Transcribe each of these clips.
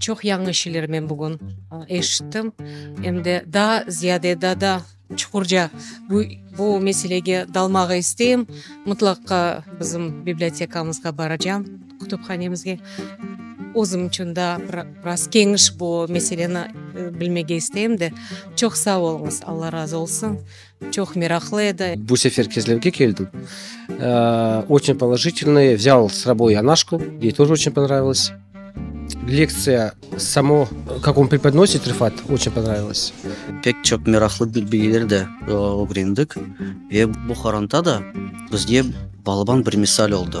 Çoq yañı şeyler men bugün eşittim, em de daa ziyade, daa da çuqurca bu meselege dalmağa isteyim. Mıtlaqqa bizim bibliotekamızğa baracağım, kütüphanemizge. Özüm içün daa bir biraz keniş bu meseleni bilmege isteyim de. Çoq sağ oluñız, Alla razı olsun! Çoq meraqlı edi. Bu sefer kezlevge keldim. Oçün položitelnıy, vzâl s soboy Anaşku, yey toj oçün ponravılось. Lektsiya samo, kak on prepodnosit Refat, oçün ponravılось. Pek çoq meraqlı bilgiler de ögrendik. Ve bu qoronta da bizge balaban bir misal oldı.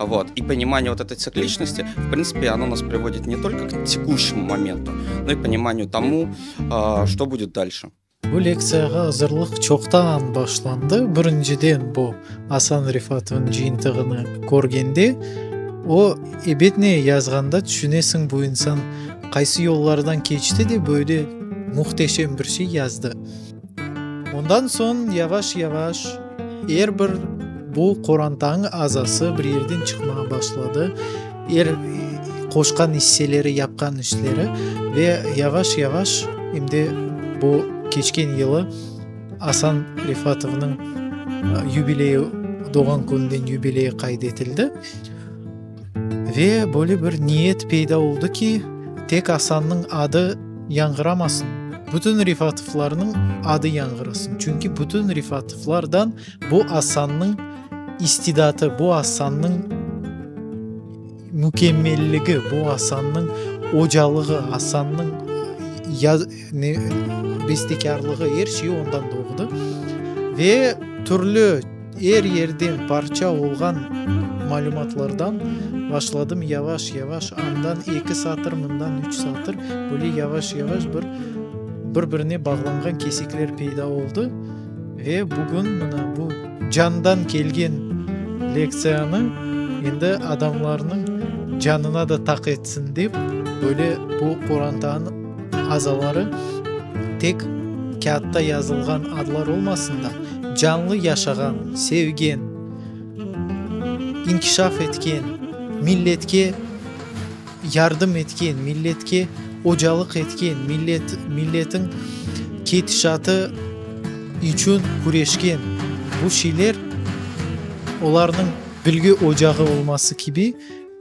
Vot, i ponimaniye vot etı tsikliçnosti, v printsipi, ono nas privodit ne tolko k tikuşnımu momentu, no i ponimaniyu tomu, što budet dalşe. Bu lektsiyağa azırlıq çoqtan başlandı. Birinciden, bu Asan Refatovnıñ cıyıntığını körgende, o, ebet ne yazğanda tüşünesiñ, bu insan qaysı yollardan keçti de böyle muhteşem bir şey yazdı. Ondan soñ yavaş-yavaş er bir bu qorantañ azası bir yerden çıqmağa başladı, er qoşqan isseleri, yapqan işleri ve yavaş-yavaş em de bu keçken yılı Asan Refatovnıñ yubileyi, doğğan kününden yubileyi qayd etildi. Ve böyle bir niyet peyda oldı ki, tek Asannıñ adı yañğıramasın, bütün Refatovlarnıñ adı yañğırasın, çünki bütün Refatovlardan bu Asannıñ istidatı, bu Asannıñ mükemmelligi, bu Asannıñ ocalığı, Asannıñ bestekârlığı, er şeyi ondan doğdı. Ve türlü. Er yerden parça olğan malümatlardan başladım yavaş-yavaş, andan eki satır, mından üç satır, böyle yavaş-yavaş bir bir-birine bağlanğan kesikler peyda oldı ve bugün mına bu candan kelgen lektsiyanı endi adamlarnıñ canına da taq etsin dep, böyle bu qorantanı. azaları tek kâğıtta yazılğan adlar olmasın da, canlı yaşağan, sevgen, inkişaf etken, milletke yardım etken, milletke ocalıq etken, millet, milletiñ ketişatı içün küreşken bu şeyler, olarnıñ bilgi ocağı olması kibi,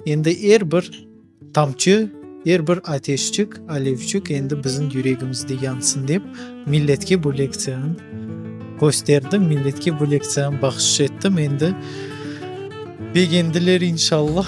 endi er bir, Tamçı, er bir ateşçik, alevçik endi bizim yüregimizde yansın dep, milletke bu lektsiyanı kösterdim, milletke bu lektsiyanı bahşış ettim. Endi begendiler, inşallah.